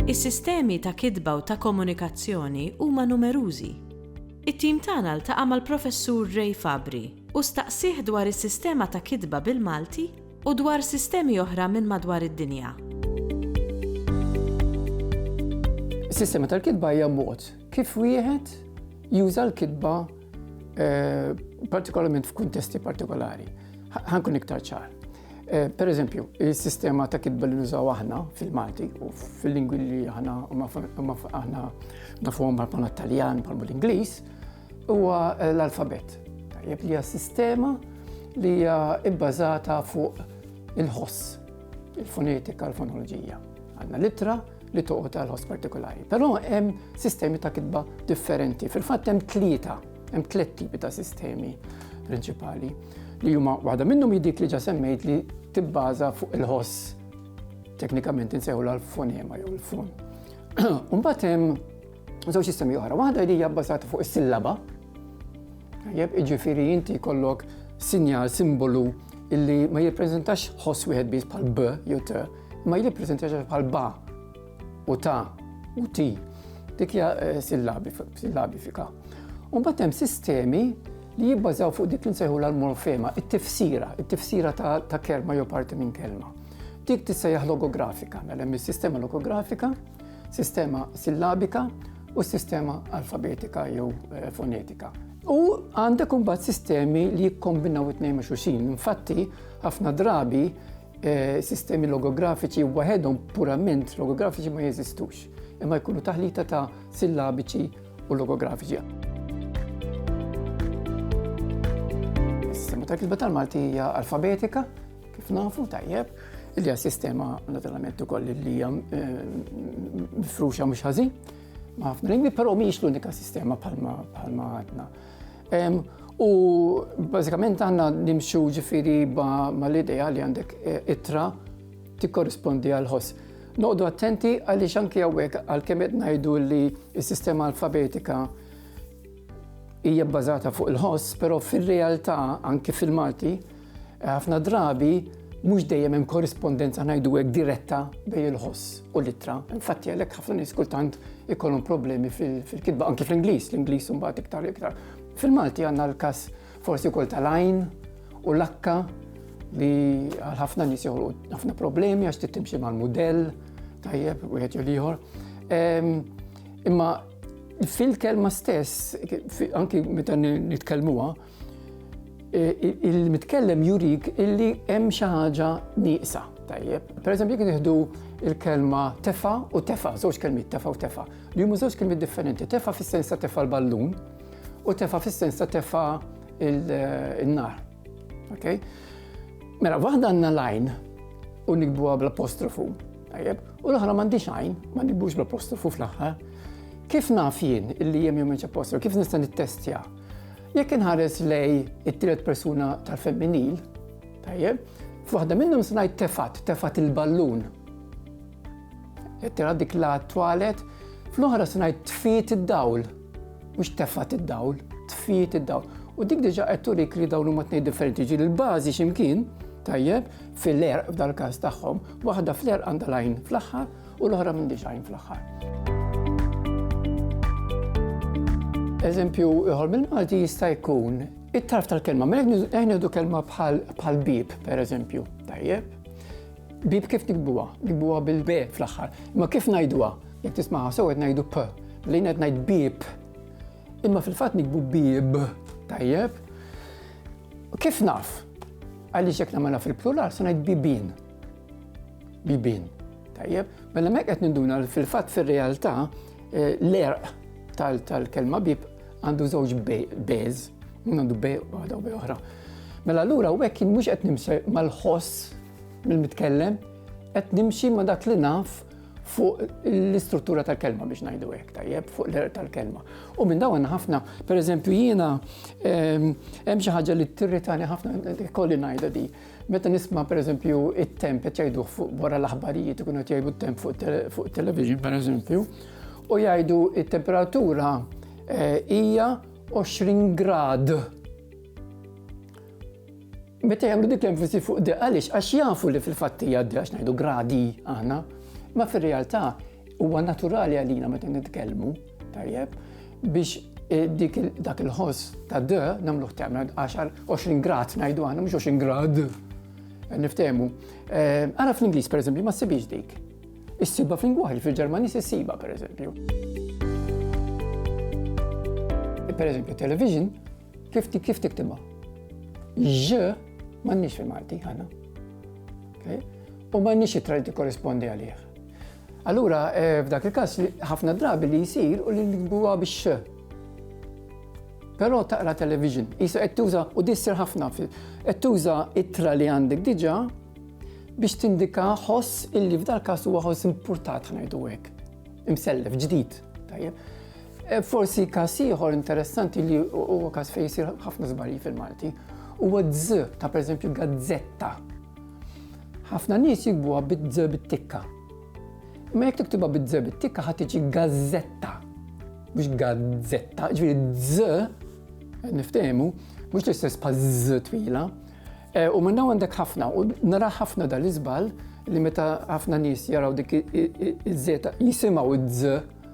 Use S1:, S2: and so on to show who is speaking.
S1: Is-sistemi ta' kitba u ta' komunikazzjoni huma numerużi. It-tim tagħna ltaqa' mal-Professur Ray Fabri u staqsieh dwar is-sistema ta' kitba bil-Malti u dwar sistemi oħra minn madwar id-dinja.
S2: Is-sistema tal-kitba hija mod kif wieħed juża l-kitba eh, partikolarment f'kuntesti partikolari. Ħankun iktar ċar. Eh, per eżempju, il-sistema ta' kitba li nużaw aħna fil-Malti u fil-lingwi li aħna aħna nafuhom bħal bħal Taljan, bħal l-Ingliż, Huwa l-alfabett, tajjeb li hija sistema li hija bbażata fuq il-ħoss, il-fonetika, l-fonoloġija. Għandna litra li toqgħod għal ħoss partikolari. Però hemm sistemi ta' kitba differenti. Fil-fatt hemm tlieta, hemm tliet tipi ta' sistemi prinċipali li huma waħda minnhom jidik li ġa semmejt li tibbaża fuq il-ħoss teknikament insejħu l-fonema jew il-fon. Umbat hemm Żewġ sistemi oħra, waħda li hija bbażata fuq is-sillaba. Jeb iġifieri inti jkollok sinjal, simbolu illi ma jippreżentax ħoss wieħed biss bħal b jew t, ma jippreżentax bħal ba u ta u ti. Dik hija eh, sillabifika. U mbagħad hemm sistemi li jibbażaw fuq dik li nsejħu l-morfema, it-tifsira, it-tifsira ta' kelma jew parti minn kelma. Dik tista' hija logografika, mela hemm is-sistema logografika, sistema sillabika u s-sistema alfabetika jew eh, fonetika. U għandek imbagħad sistemi li jikkombinaw it-tnejn ma' xulxin. Infatti, ħafna drabi eh, sistemi logografiċi waħedhom purament logografiċi ma jeżistux, imma jkunu taħlita ta' sillabiċi u logografiċi. Is-sistema ta' kitba tal-Malti hija alfabetika, Kif nafu tajjeb, il-ja sistema naturalment ukoll li hija eh, mifruxa mhux ħażin ma' ħafna lingwi, però mhijiex l-unika sistema bħalma għadna. U bażikament għandna nimxu ġifieri ma' l-idea li għandek eh, itra tikkorrispondi għal ħoss. Noqdu attenti għaliex anki hawnhekk għalkemm qed ngħidu li s-sistema alfabetika hija bbażata fuq il-ħoss, però fir-realtà anki fil-Malti Ħafna drabi mhux dejjem hemm korrispondenza ngħidu hekk diretta bejn il-ħoss u l-ittra. Infatti għalhekk ħafna nies kultant ikollhom problemi fil-kitba anki fl-Ingliż, l-Ingliż imbagħad iktar iktar. Fil-Malti għandna l-każ forsi wkoll tal-għajn u l-akka li għal ħafna nies joħolqu ħafna problemi għax tittimxi mal-mudell tajjeb wieħed jew ieħor. Ehm, imma fil-kelma stess, anki meta nitkellmuha, il-mitkellem jurik illi hemm xi ħaġa nieqsa. Tajjeb, per eżempju, jekk nieħdu il-kelma tefa u tefa, żewġ kelmiet tefa u tefa, li huma żewġ kelmiet differenti. Tefa fis-sens ta' tefa l-ballun u tefa fis-sens ta' tefa il-nar. Ok? Mela, waħda għandna lajn u nikbuha bl-apostrofu. Tajjeb, u l-oħra m'għandix għajn, ma nikbux bl-apostrofu fl-aħħar. Kif naf jien illi hemm jew apostrofu? Kif nista' nittestja? Jekk inħares lej it-tielet persuna tal-femminil, tajjeb, f'waħda minnhom se ngħid tefat, tefat il-ballun. Qed tara dik la twalet, fl-oħra se ngħid tfiet id-dawl, mhux tefat id-dawl, tfiet id-dawl. U dik diġa qed turik li dawn huma tnejn differenti ġi l-bażi x'imkien, tajjeb, fil-erq f'dal-każ tagħhom, waħda fl-erq għandha lajn fl-aħħar, u l-oħra minn design fl-aħħar. Eżempju, iħor mill-Malti jista' jkun it-tarf tal-kelma, ma jgħidu kelma bħal bib, per eżempju, tajjeb. Bib kif nikbuha? Nikbuha bil-be fl-aħħar. Ma kif ngħiduha? Jekk tismaha sew qed ngħidu p, li qed ngħid bib. Imma fil-fatt nikbu bib, tajjeb. Kif naf? Għaliex jekk nagħmilha fil-plural se ngħid bibin. bibien. Tajjeb, mela mek qed ninduna fil-fatt fir-realtà eh, l-erq tal-kelma bib għandu żewġ beż, għandu bej waħda u bej oħra. Mela allura u hekk mhux qed nimxi mal-ħoss mill-mitkellem, qed nimxi ma' dak li naf fuq l-istruttura tal-kelma biex ngħidu hekk tajjeb fuq l-erq tal-kelma. U minn dawn ħafna, pereżempju jiena ehm, hemm xi ħaġa li tirritani ħafna kolli ngħidha di. Meta nisma' pereżempju it-temp qed jgħiduh fuq wara l-aħbarijiet ikun qed jgħidu t-temp fuq it-television pereżempju u jgħidu t-temperatura eh, hija 20 grad. Meta jagħmlu dik l-enfasi fuq de għaliex għax jafu li fil-fatt hija de għax ngħidu gradi aħna, ma fir-realtà huwa naturali għalina meta nitkellmu Tajjeb, biex eh, dik dak il-ħoss ta' d namluħ temel 10-20 grad najdu għana, mux 20 grad. Eh, niftemu. Eh, għara fl-Inglis, per eżempju, ma s-sibix dik. Is-siba fl-ingwaħi, fil-Ġermani s-siba, per eżempju. Per eżempju, television, Kif kif tiktibha? J m'għandniex fil-Malti ħana. U m'għandniex it-tra li tikkorrispondi għalih. Allura, eh, f'dak il-każ ħafna drabi li jsir u li nikbuha bix Però taqra television, jisu qed tuża u dissir ħafna fil qed tuża ittra li għandek diġà biex tindika ħoss illi f'dal każ huwa ħoss importat ħnajdu hekk. Imsellef ġdid, tajjeb. E, forsi każ ieħor interessanti li huwa każ fejn jsir ħafna żbalji fil-Malti huwa dż ta' pereżempju gazzetta. Ħafna nies jikbuha bid-dż bit-tikka. Ma jekk tiktibha bid-dż bit-tikka ħadd tiġi gazzetta. Mhux gazzetta, ġifieri dż niftehmu, mhux l-istess bħal dż twila. E, u minna għandek ħafna, u nara ħafna dal-iżbal li meta ħafna nies jaraw dik iż-żeta jisimaw id-dż